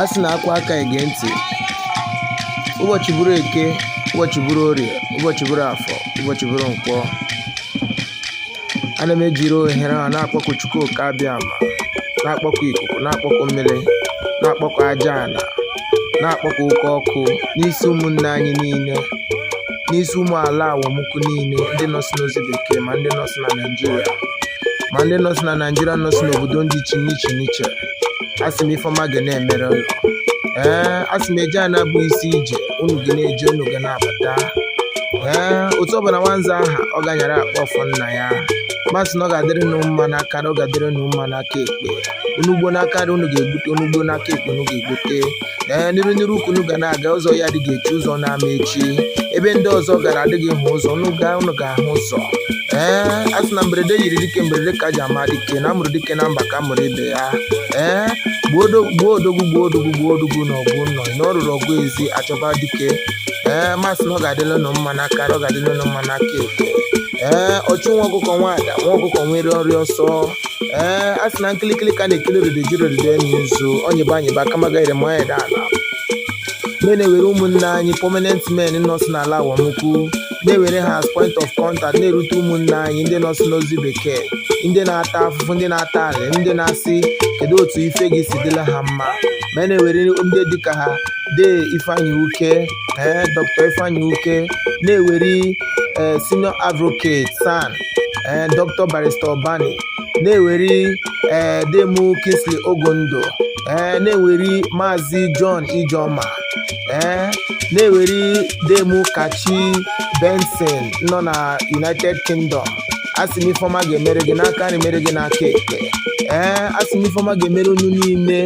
a sị na akwa aka ege ntị ụbọchị bụrụ eke ụbọchị bụrụ orie ụbọchị bụrụ afọ ụbọchị bụrụ nkwọ ana m ejiri ohere a na-akpọku chukwu oke abịama na-akpọku ikuku na-akpọku mmiri na-akpọku aja ala na-akpọku oke ọkụ n'isi ụmụnne anyị niile n'isi ụmụ ala awọmukwu niile ndị nọsị n'ozi bekee ma ndị nọsị na naijiria ma ndị nọsị na naijiria nọsị n'obodo ndị iche n'iche n'iche asị m ife ọma ga na-emere unu ee asị m eje ana bụ isi ije unu ga na-eje unu ga na-abata ee otu ọbụla nwanza aha ọ ga-anyara akpa ọfọ nna ya m asị na ọ ga-adịrị unu mma n'aka nri ọ ga-adịrị unu mma n'aka ekpe unu gbuo n'aka nri unu ga-egbute unu gbuo n'aka ekpe unu ga-egbute ee n'iru n'iru ka unu ga na-aga ụzọ iyi adịghị echi ụzọ unu ama echi ebe ndị ọzọ gara adịghị hụ ụzọ unu gaa unu ga-ahụ ụzọ ee a sị na mberede nyiri dike mberede ka e ji ama dike na a mụrụ dike na mba ka a mụrụ ibe ya ee gbuo odo- gbuo odogwu gbuo odogwu gbuo odogwu n'ọgụ ụnọ na o ruru ọgụ ezi a chọba dike ee m asị na ọ ga-adịla ụnụ mma n'aka ọ ga-adịla ụnụ mma n'aka ekpe ee ọchụ nwa ọkụkọ nwe ada nwa ọkụkọ nwere ọrịa ọsọ ee a sị na nkili nkili ka a na-ekiri ododo e jighi ododo eni ozu onyebe anyịba kama gaire ma onye ala me na-ewere ụmụnne anyị prominent men nọsụ n'ala awọmukwu na-ewere ha as point of contact na-erute ụmụnne anyị ndị nọsụ n'ozi bekee ndị na-ata afụfụ ndị na-ata alị ndị na-asị kedu otu ife ga-esi dịla ha mma ma a na-ewere ndị dịka ha dee ifeanyị uke ee dr ifeanyị uke na-ewere ee senior advocate san ee eh, dr barrister obani na-eweri ee eh, dee mụ kingsley ogondo ee eh, na-eweri maazị john ijeoma ee na-eweri dee mụ kachi benson nọ na united kingdom asị m ife ọma ga-emere gị n'aka nri mere gị n'aka ekpe ee asị m ife ọma ga-emere unu niile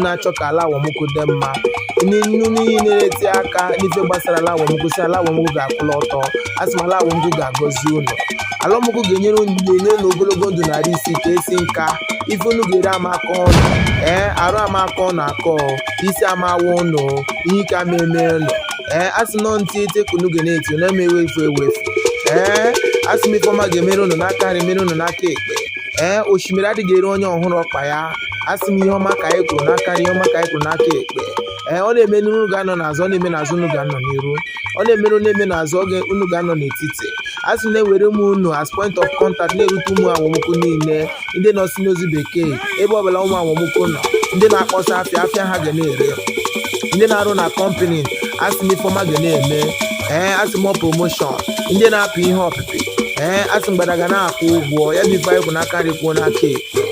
na-achọ ka ala awọmukwu dị mma unu niile na-eti aka n'ife gbasara ala awọmukwu sị ala awọmukwu ga-akwụla ọtọ a sị m ala awọmukwu ga-agọzi unu ala awọmukwu ga-enyere unu ga-enye unu ogologo ndụ na arụ isi ike esi nka ife unu ga-eri ama akọ ụnụ ee arụ ama akọ ụnụ akọ isi ama awa ụnụ ihe ike ama eme ụnụ ee a sị nọ ntị ete ka unu ga na-eti na-emewe efu ewefu ee a sị m ife ọma ga-emere unu n'aka nri mere unu n'aka ekpe ee osimiri adịghị eri onye ọ hụghị ọkpa ya asị m ihe ọma ka anyị kwuru n'aka nri ihe ọma ka anyị kwuru n'aka ekpe ee ọ na-eme n'iru unu ga-anọ n'azụ ọ na-eme n'azụ unu ga-anọ n'iru ọ na-eme n'iru na-eme n'azụ oge unu ga-anọ n'etiti a sị na-ewere ụmụ unu as point of contact na-erute ụmụ awọmukwu niile ndị nọsị n'ozi bekee ebe ọ bụla ụmụ awọmukwu nọ ndị na-akpọsa afịa afịa ha ga na-ere ndị na-arụ na kọmpani asị m ife ọma ga na-eme ee asị m promotion ndị na-apụ ihe ọpịpị ee asị mgbada ga na-akwụ ụgwọ ya bụ ife anyị kwu n'aka nri kwuo n'aka ekpe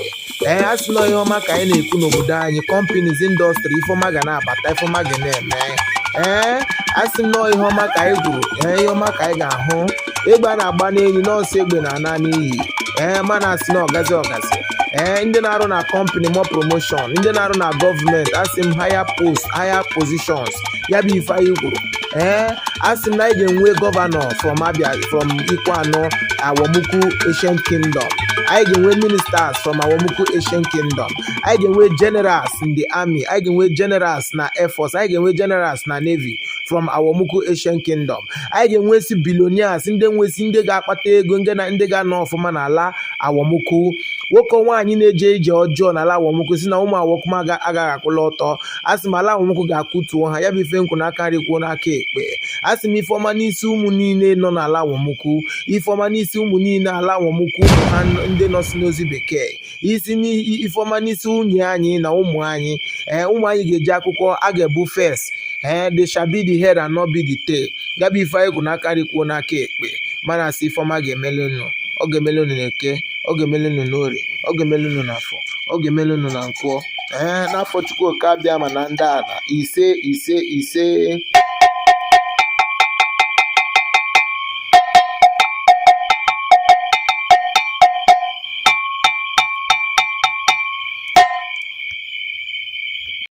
ee asị na ihe ọma ka anyị na-ekwu n'obodo anyị companies industry ife ọma ga na-abata ife ọma ga na-eme ee asị m na ihe ọma ka anyị kwuru ee ihe ọma ka anyị ga-ahụ egbe a na-agba n'enyi n'ọsụ egbe na-ana n'iyi ee mana asị na ọgazi ọgazi ee ndị na-arụ na company more promotion ndị na-arụ na gọọmenti asị m higher post higher positions ya bụ ife anyị kwuru ee asị m na anyị ga-enwe governor from abia from ikwuano awọmụkwụ ancient kingdom anyị ga-enwe ministers from awọmụkwụ ancient kingdom anyị ga-enwe generals in the army anyị ga-enwe generals na air force anyị ga-enwe generals na navy from awọmụkwụ ancient kingdom anyị ga-enwesi billionaires ndị nwesi ndị ga-akpata ego ndị na ndị ga-anọ ọfụma n'ala awọmụkwụ nwoke nwaanyị na-eje ije ọjọọ n'ala awọmụkwụ sị na ụmụ awọmụkwụ agaghị akwụla ọtọ asị m ala awọmụkwụ ga-akụtuo ha ya bụ ife m kwu n'aka nri kwuo n'aka ekpe asị m ife ọma n'isi ụmụ niile nọ n'ala awọmụkwụ ife ọma n'isi ụmụ niile ala awọmụkwụ ụmụ ha ndị nọsi n'ozi bekee asị ife ọma n'isi nwunye anyị na ụmụ anyị ee eh, ụmụ anyị ga-eje akwụkwọ ha ga-ebu first ee eh, they shall be the head and not be the tail ya bụ ife anyị kwu n'aka nri kwuo n'aka ekpe mana asị ife ọma ga-emeli unu ọ ga-emeli unu na eke ọ ga-emeli unu na orie ọ ga-emeli unu na afọ ọ ga-emeli unu na nkwọ ee n'afa chukwu oke abịama na ndị ala ise ise ise